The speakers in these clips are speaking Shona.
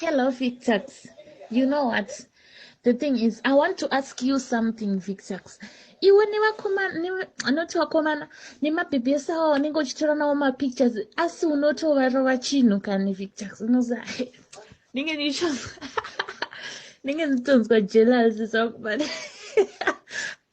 Hello, Victax. You know what? The thing is, I want to ask you something, Victax. Iwe nevakomana, anoti vakomana, nemabhebhi ese awa unenge uchitora nawo mapictures, asi unotovarova chinhu kani, Victax. Unoza, ndinge ndichonzwa, ndinge ndichonzwa jealousy zvangu, but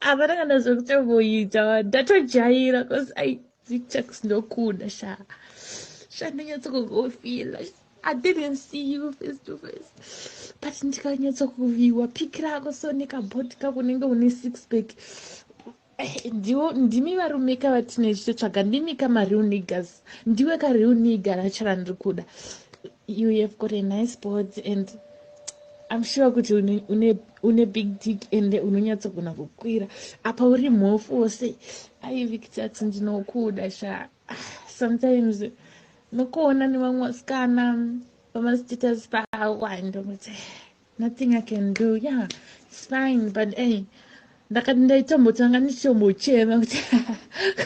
hapana kana zvekutomboita, ndatojaira, because I, Victax ndokuda, sha. Sha, ndinyatsokugofila, sha. I didn't see you face to face but ndikanyatsa kuviwa pic rako so nekabhoti kako unenge une six pack eh, ndiwo ndimi varume ka vatine chitotsvaga ndimi ka mareal niggers ndiwe ka real nigger rachara ndiri kuda you have got a nice board and i'm sure kuti une, une, une big dick and unonyatsogona kukwira apa uri mhofu wose aivikitati ndinokuda sha ah, sometimes nokuona nevamwe vasikana pamastatus pawa ndokuti nothing i can do ya yeah, its fine but ey ndakati ndaitambotanga ndichombochema kuti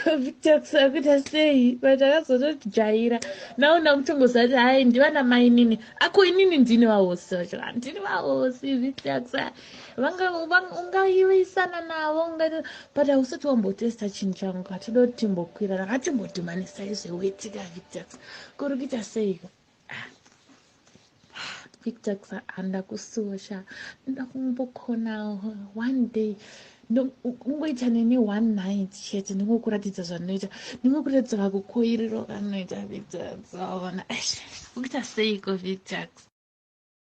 kuvitoxa kuita sei but akazotojaira naona kutongozati hai ndivana mainini ako inini ndini vahosi vacho ndini vahosi vitoxa vanga ungaivisana navo ungaita but hausati wambotesta chinhu changu hatida kuti timbokwirana ngatimbodhimanisa izve wetika victax kuri kuita seiko ah. victax handa kusosha ndoda kumbokona one day ungoita neni one night chete ndingokuratidza zvandinoita ndingokuratidza vakukoiriro kanoita victax aona kuita seiko victax